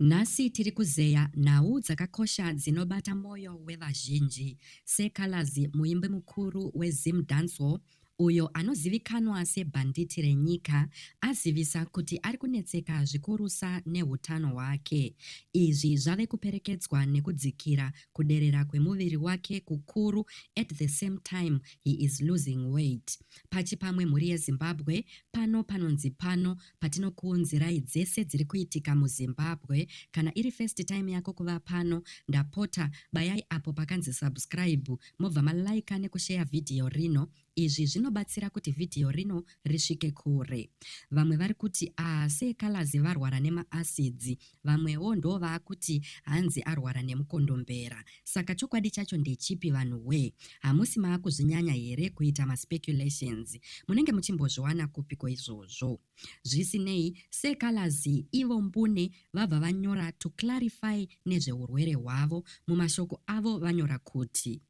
Nhasi tiri kuzeya nhau dzakakosha dzinobata moyo wevazhinji seColors muimbi mukuru weZim Dancehall uyo anozivikanwa sebhanditi renyika azivisa kuti ari kunetseka zvikurusa nehutano hwake. Izvi zvave kuperekedzwa nekudzikira kuderera kwemuviri wake kukuru at the same time he is losing weight. Pachipamwe mhuri yeZimbabwe pano panonzi pano Patinokuunzirai dzese dziri kuitika muZimbabwe, kana iri first time yako kuva pano, ndapota bayai apo pakanzi subscribe mobva ma liker nekusheya video rino. Izvi zvinobatsira kuti video rino risvike kure. Vamwe vari kuti, aah seekalazi varwara nema acids. Vamwewo ndovaakuti hanzi arwara nemukondombera. Saka chokwadi chacho ndechipi vanhu wee. Hamusi maakuzvinyanya here kuita ma speculations. Munenge muchimbozviwana kupiko izvozvo. Zvisinei, Sir Calaz ivo mbune vabva vanyora to clarify nezvehurwere hwavo. Mumashoko avo vanyora kuti.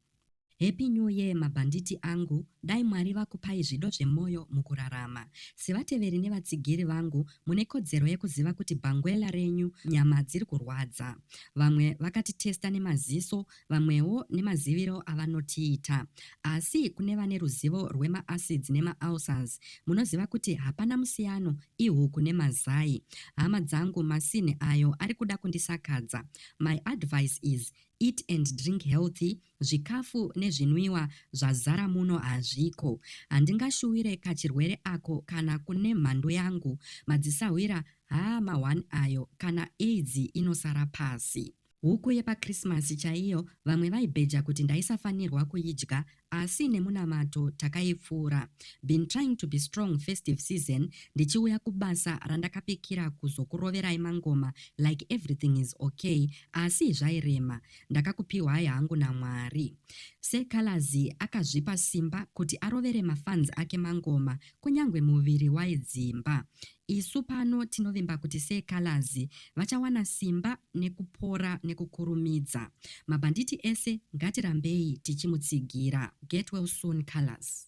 Happy new year mabhanditi angu dai Mwari vakupai zvido zvemoyo mukurarama. Sevateveri nevatsigiri vangu mune kodzero yekuziva kuti bhangwela renyu nyama dziri kurwadza. Vamwe vakatitesta nemaziso vamwewo nemaziviro avanotiita. Asi kune vane ruzivo rwemaacids nemaulcers munoziva kuti hapana musiyano ihuku nemazai. Hama dzangu masini ayo ari kuda kundisakadza. My advice is Eat and drink healthy, zvikafu nezvinwiwa zvazara muno hazviko. Handingashuwire kachirwere ako kana kune mhandu yangu. Madzisahwira haa ma one ayo kana aids inosara pasi. Huku yepaChristmas chaiyo vamwe vaibheja kuti ndaisafanirwa kuidya Asi nemunamato takaipfuura. Been trying to be strong festive season ndichiuya kubasa randakapikira kuzokuroverai mangoma like everything is ok asi zvairema. Ndakakupihwai hangu naMwari. Sir Calaz akazvipa simba kuti arovere mafans ake mangoma kunyangwe muviri waidzimba. Isu pano tinovimba kuti seColors vachawana simba nekupora nekukurumidza. Mabhanditi ese ngatirambei tichimutsigira. Get well soon Colors.